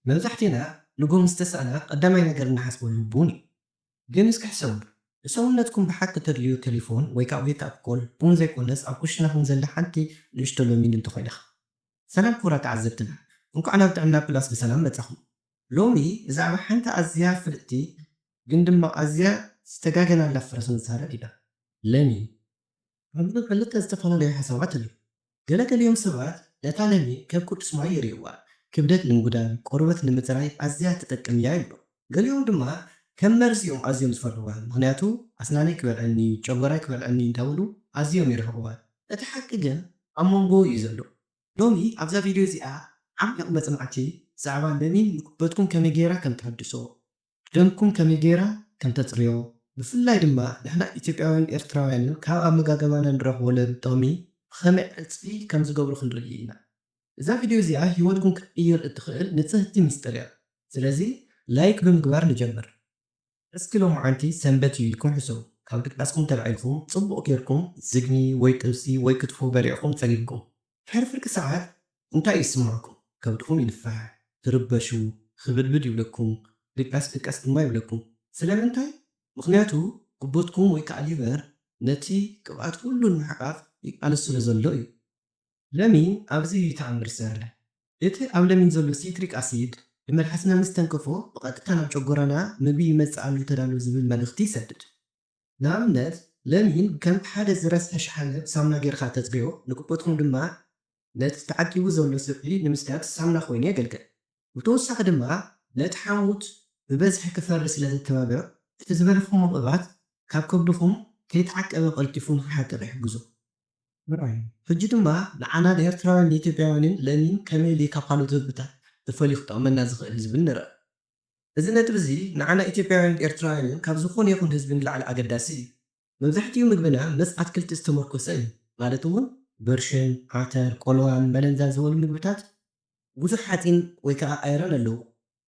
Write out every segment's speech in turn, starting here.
መብዛሕቴና ንቡር ምስ ተሳእና ቀዳማይ ነገር እንሓስበሉ ቡን እዩ። ግን እስኪ ሕሰብሉ ንሰውነትኩም ብሓቂ ተድልዩ ተሊፎን ወይ ከዓ ዌክ ኣፕ ኮል ቡን ዘይኮነስ ኣብ ኩሽናኹም ዘላ ሓንቲ ንእሽቶ ለሚን እንተኾይናኻ። ሰላም ክቡራት ተዓዘብትና እንኳዕ ናብ ጥዕና ፕላስ ብሰላም መፃኹም ሎሚ ብዛዕባ ሓንቲ ኣዝያ ፍልጥቲ ግን ድማ ኣዝያ ዝተጋገናላ ፍረ ክንዛረብ ኢና ለሚን ኣብዚ ኽልተ ዝተፈላለዩ ሓሳባት ኣለዉ። ገለ ገሊኦም ሰባት ነታ ለሚ ከም ቅዱስ ማይ ይርእይዋ፣ ክብደት ንምጕዳል፣ ቈርበት ንምጽራይ ኣዝያ ትጠቅም እያ ይብሉ። ገሊኦም ድማ ከም መርዚ እዮም ኣዝዮም ዝፈርህዋ፣ ምኽንያቱ ኣስናነይ ክበልዐኒ እዩ፣ ጨጐራይ ክበልዐኒ እዩ እንዳበሉ ኣዝዮም ይርሕቕዋ። እቲ ሓቂ ግን ኣብ መንጎ እዩ ዘሎ። ሎሚ ኣብዛ ቪድዮ እዚኣ ዓሚቕ መጽናዕቲ ብዛዕባ ለሚን ንክብደትኩም ከመይ ገይራ ከም ተሐድሶ፣ ደምኩም ከመይ ገይራ ከም ተጽርዮ ብፍላይ ድማ ንሕና ኢትዮጵያውያንን ኤርትራውያንን ካብ ኣመጋግባና እንረኽቦ ለብ ጥቕሚ ብኸመይ ዕጽፊ ከም ዝገብሮ ክንርኢ ኢና። እዛ ቪድዮ እዚኣ ህይወትኩም ክትቅይር እትኽእል ንጽህቲ ምስጢር እያ። ስለዚ ላይክ ብምግባር ንጀምር። እስኪ ሎምዓንቲ ሰንበት እዩ ኢልኩም ሕሰቡ። ካብ ድቃስኩም ተላዒልኩም ጽቡቕ ገይርኩም ዝግኒ ወይ ጥብሲ ወይ ክትፎ በሊዕኩም ጸጊብኩም። ድሕሪ ፍርቂ ሰዓት እንታይ ይስመዐኩም? ከብድኹም ይንፋሕ፣ ትርበሹ፣ ኽብድብድ ይብለኩም፣ ድቃስ ድቃስ ድማ ይብለኩም። ስለምንታይ? ምኽንያቱ ጉበትኩም ወይ ከዓ ሊቨር ነቲ ቅብኣት ኹሉ ንምሕቃፍ ይቃለስ ስለ ዘሎ እዩ። ለሚን ኣብዚ እዩ ተኣምር ዝሰርሕ። እቲ ኣብ ለሚን ዘሎ ሲትሪክ ኣሲድ ብመልሓስና ምስ ተንከፎ ብቐጥታ ናብ ጨጎራና ምግቢ ይመፅእ ኣሎ ተዳሎ ዝብል መልእኽቲ ይሰድድ። ንኣብነት ለሚን ከም ሓደ ዝረስሐ ሽሓነ ብሳሙና ጌርኻ ተጽብዮ፣ ንጉበትኩም ድማ ነቲ ተዓቂቡ ዘሎ ስብሒ ንምስዳድ ሳሙና ኮይኑ የገልግል። ብተወሳኺ ድማ ነቲ ሓሞት ብበዝሒ ክፈሪ ስለ ዘተባብዕ፣ እቲ ዝበላዕኩሞ ቅብኣት ካብ ከብድኹም ከይተዓቀበ ቀልጢፉ ንኽሓቅቕ ይሕግዞ። ምርኣይ። ሕጂ ድማ ንዓና ንኤርትራውያን ንኢትዮጵያውያንን ለሚን ከመይ ኢሉ እዩ ካብ ካልኦት ምግብታት ተፈልዩ ክጠቕመና ዝኽእል ዝብል ንርኣ። እዚ ነጥቢ እዚ ንዓና ኢትዮጵያውያንን ኤርትራውያንን ካብ ዝኾነ ይኹን ህዝቢ ንላዕሊ ኣገዳሲ እዩ። መብዛሕቲኡ ምግብና መስ ኣትክልቲ ዝተሞርኮሰ እዩ፣ ማለት እውን ብርሽን፣ ዓተር፣ ቆልዋን መለንዛን ዝበሉ ምግብታት ብዙሕ ሓጺን ወይ ከኣ ኣይረን ኣለዎም።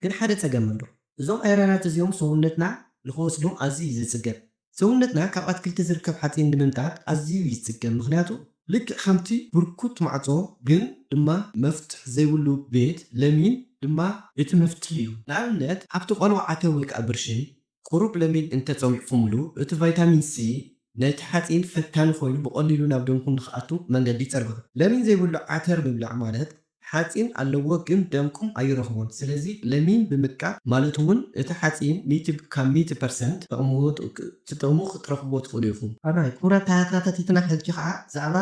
ግን ሓደ ጸገም ኣሎ። እዞም ኣይረናት እዚኦም ሰውነትና ንኽወስዶም ኣዝዩ እዩ ዝጽገም። ሰውነትና ካብ ኣትክልቲ ዝርከብ ሓጺን ንምምጣጥ ኣዝዩ ይጽገም ምኽንያቱ ልክዕ ከምቲ ብርኩት ማዕጾ ግን ድማ መፍትሕ ዘይብሉ ቤት ለሚን ድማ እቲ መፍትሕ እዩ ንኣብነት ኣብቲ ቆልዋ ዓተር ወይ ከኣ ብርሺ ቁሩብ ለሚን እንተ ጸዊዕኩምሉ እቲ ቫይታሚን ሲ ነቲ ሓጺን ፈታኒ ኮይኑ ብቀሊሉ ናብ ደምኩም ንኽኣቱ መንገዲ ይጸርግሑ ለሚን ዘይብሉ ዓተር ምብላዕ ማለት ሓጺን ኣለዎ ግን ደምኩም ኣይረኽቦን ስለዚ ለሚን ብምጥቃም ማለት ውን እቲ ሓጺን ሚእቲ ካብ ሚእቲ ፐርሰንት ተቕምዎ ትጥቕሙ ክትረኽብዎ ትኽእሉ ኢኹም። ኣራይ ክቡራት ተኸታተልትና ሕጂ ከኣ ብዛዕባ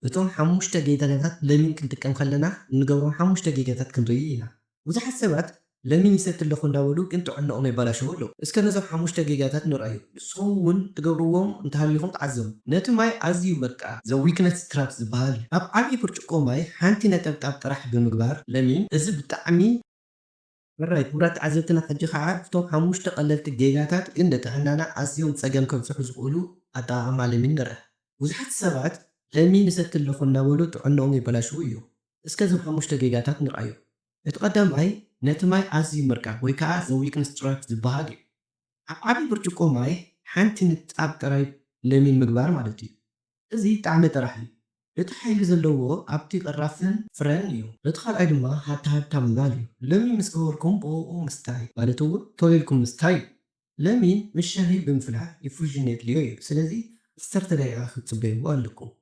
እቶም ሓሙሽተ ጌጋታት ለሚን ክንጥቀም ከለና እንገብሮም ሓሙሽተ ጌጋታት ክንርኢ ኢና። ብዙሓት ሰባት ለሚን ይሰቲ ኣለኹ እንዳበሉ ግን ጥዕንኦም የባላሽዉ ኣለዉ እስከ ነዞም ሓሙሽተ ጌጋታት ንርኣዮም ንስኹም ውን ትገብርዎም እንተሃሊኹም ተዓዘቡ ነቲ ማይ ኣዝዩ በቃ the weakness trap ዝብሃል እዩ ኣብ ዓብይ ብርጭቆ ማይ ሓንቲ ነጠብጣብ ጥራሕ ብምግባር ለሚን እዚ ብጣዕሚ ሕራይ ክቡራት ተዓዘብትና ሕጂ ካዓ እቶም ሓሙሽተ ቀለልቲ ጌጋታት ግን ንጥዕናና ኣዝዮም ፀገም ከብፅሑ ዝኽእሉ ኣጠቓቕማ ለሚን ንርኣ ብዙሓት ሰባት ለሚን ይሰቲ ኣለኹ እንዳበሉ ጥዕንኦም የባላሽዉ እዮም እስከ እዞም ሓሙሽተ ጌጋታት ንርኣዮም እቲ ቀዳማይ ነቲ ማይ ኣዝዩ ምርካብ ወይ ከኣ the weakness track ዝበሃል እዩ። ኣብ ዓቢ ብርጭቆ ማይ ሓንቲ ንጣብ ጥራይ ለሚን ምግባር ማለት እዩ። እዚ ጣዕሚ ጥራሕ እዩ። እቲ ሓይሊ ዘለዎ ኣብቲ ቅራፍን ፍረን እዩ። እቲ ካልኣይ ድማ ሃታሃታ ምባል እዩ። ለሚን ምስ ገበርኩም ብኡኡ ምስታይ ማለት እውን ቶሎ ኢልኩም ምስታይ እዩ። ለሚን ምስ ሻሂ ብምፍላሕ ኢፉዥን የድልዮ እዩ። ስለዚ ዓሰርተ ደቂቃ ክትጽበይዎ ኣለኩም።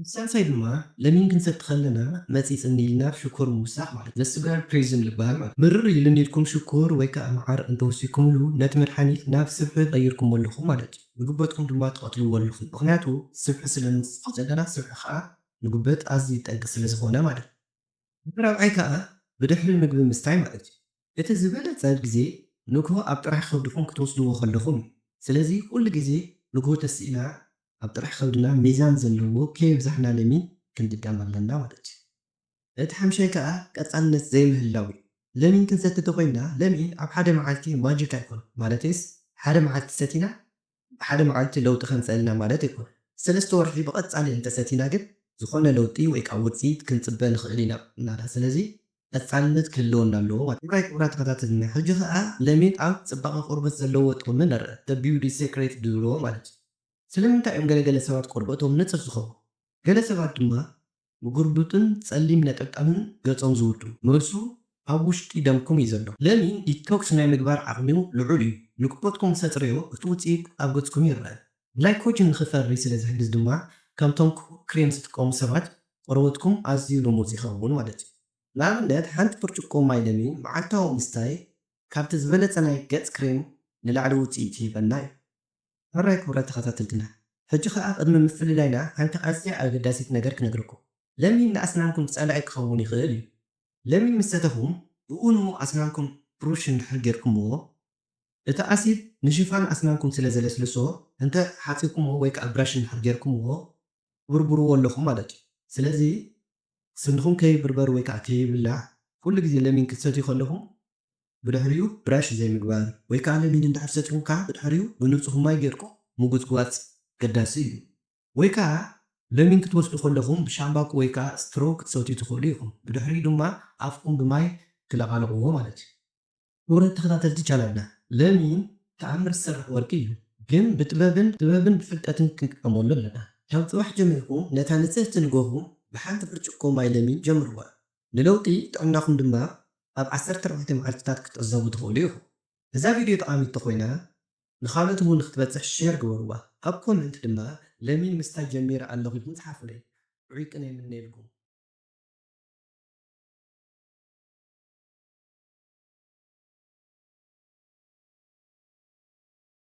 ብሳልሳይ ድማ ለሚን ክንሰቲ ከለና መጺጽ እንዲልና ሽኮር ምውሳኽ ማለት እዩ። Sugar Poison ልበሃል ማለት እዩ። ምርር ኢሉ እንዲልኩም ሽኮር ወይ ከኣ መዓር እንተወሲኽኩምሉ ነቲ መድሓኒት ናብ ስብሒ ቀይርኩሞ ኣለኹም ማለት እዩ። ንጉበትኩም ድማ ትቐትልዎ ኣለኹም። ምኽንያቱ ስብሒ ስለ ንውስኽ ዘለና ስብሒ ከኣ ንጉበት ኣዝዩ ጠንቂ ስለ ዝኾነ ማለት እዩ። እቲ ራብዓይ ከኣ ብድሕሪ ምግቢ ምስታይ ማለት እዩ። እቲ ዝበለጸ ግዜ ንግሆ ኣብ ጥራሕ ከብድኹም ክትወስድዎ ከለኹም እዩ። ስለዚ ኩሉ ግዜ ንግሆ ተሲእና ኣብ ጥራሕ ከብድና ሚዛን ዘለዎ ከየብዛሕና ለሚን ክንጥቀም ኣለና ማለት እዩ። እቲ ሓምሻይ ከኣ ቀጻልነት ዘይምህላው እዩ። ለሚን ክንሰቲ ተኾይንና ለሚን ኣብ ሓደ መዓልቲ ማጂክ ኣይኮነን ማለተይስ ሓደ መዓልቲ ሰቲና ብሓደ መዓልቲ ለውጢ ከምፀእልና ማለት ኣይኮነን። ሰለስተ ወርሒ ብቐፃሊ እንተሰቲና ግን ዝኾነ ለውጢ ወይ ከዓ ውፅኢት ክንፅበ ንኽእል ኢና ማለት እዩ። ስለዚ ቀፃልነት ክህልወና ኣለዎ ማለት እዩ። ክቡራይ ክቡራት ተኸታተልና ሕጂ ከዓ ለሚን ኣብ ፅባቐ ቆርበት ዘለዎ ጥቕሚ ንርኣ። The Beauty Secret ዝብልዎ ማለት እዩ። ስለምንታይ እዮም ገለ ገለ ሰባት ቆርበቶም ንፅፍ ዝኸውን? ገለ ሰባት ድማ ምጉርብጥን ጸሊም ነጠብጣብን ገጾም ዝውዱ፣ መልሱ ኣብ ውሽጢ ደምኩም እዩ ዘሎ። ለሚን ዲቶክስ ናይ ምግባር ዓቕሚኡ ልዑል እዩ፣ ንግሆትኩም ምስ ኣጽረዮ እቲ ውጽኢት ኣብ ገጽኩም ይረኣ። ግላይኮጅን ንኽፈሪ ስለ ዝሕግዝ ድማ ከምቶም ክቡብ ክሬም ዝጥቀሙ ሰባት ቆርበትኩም ኣዝዩ ልሙጽ ይኸውን ማለት እዩ። ንኣብነት ሓንቲ ብርጭቆ ማይ ለሚን መዓልታዊ ምስታይ ካብቲ ዝበለጸ ናይ ገጽ ክሬም ንላዕሊ ውጽኢት ይህበና እዩ። ሕራይ ክቡራት ተኸታተልትና ሕጂ ከኣ ቅድሚ ምፍልላይና ሓንቲ ኣዝያ ኣገዳሲት ነገር ክነግረኩም ለሚን ንኣስናንኩም ጸላኢ ክኸውን ይኽእል እዩ ለሚን ምስ ሰተኹም ብኡኑ ኣስናንኩም ብሩሽ እንድሕር ጌርኩምዎ እቲ ኣሲድ ንሽፋን ኣስናንኩም ስለ ዘለስልሶ እንተ ሓጺብኩምዎ ወይ ከኣ ብራሽ እንድሕር ጌርኩምዎ ትብርብርዎ ኣለኹም ማለት እዩ ስለዚ ስንኹም ከይብርበር ወይ ከኣ ከይብላዕ ኩሉ ግዜ ለሚን ክትሰትዩ ከለኹም ብድሕሪኡ ብራሽ ዘይምግባር ወይ ከኣ ለሚን እንድሕር ሰቲኹምካ ብድሕሪኡ ብንጹህ ማይ ጌርኩም ምጉጽጓጽ ኣገዳሲ እዩ። ወይ ከኣ ለሚን ክትወስዱ ከለኹም ብሻምባቆ ወይ ከኣ ስትሮ ክትሰትዩ ትኽእሉ ኢኹም ብድሕሪኡ ድማ ኣፍኩም ብማይ ትለቓልቕዎ ማለት እዩ። ክቡራት ተኸታተልቲ ቻናልና ለሚን ተኣምር ዝሰርሕ ወርቂ እዩ ግን ብጥበብን ጥበብን ብፍልጠትን ክንጥቀመሉ ኣለና ካብ ጽባሕ ጀሚርኩም ነታ ንጽህቲ ንገኹም ብሓንቲ ብርጭቆ ማይ ለሚን ጀምርዋ ንለውጢ ጥዕናኹም ድማ ኣብ ዓሰርተ ኣርባዕተ መዓልቲታት ክትዕዘቡ ትኽእሉ ኢኹም። እዛ ቪድዮ ጠቓሚት ተኾይና ንኻልኦት እውን ንኽትበጽሕ ሼር ግበርዋ። ኣብ ኮመንት ድማ ለሚን ምስታይ ጀሚረ ኣለኹ ኢልኩም ጽሓፉለይ። ጥዑይ ቅነ ይምነየልኩም።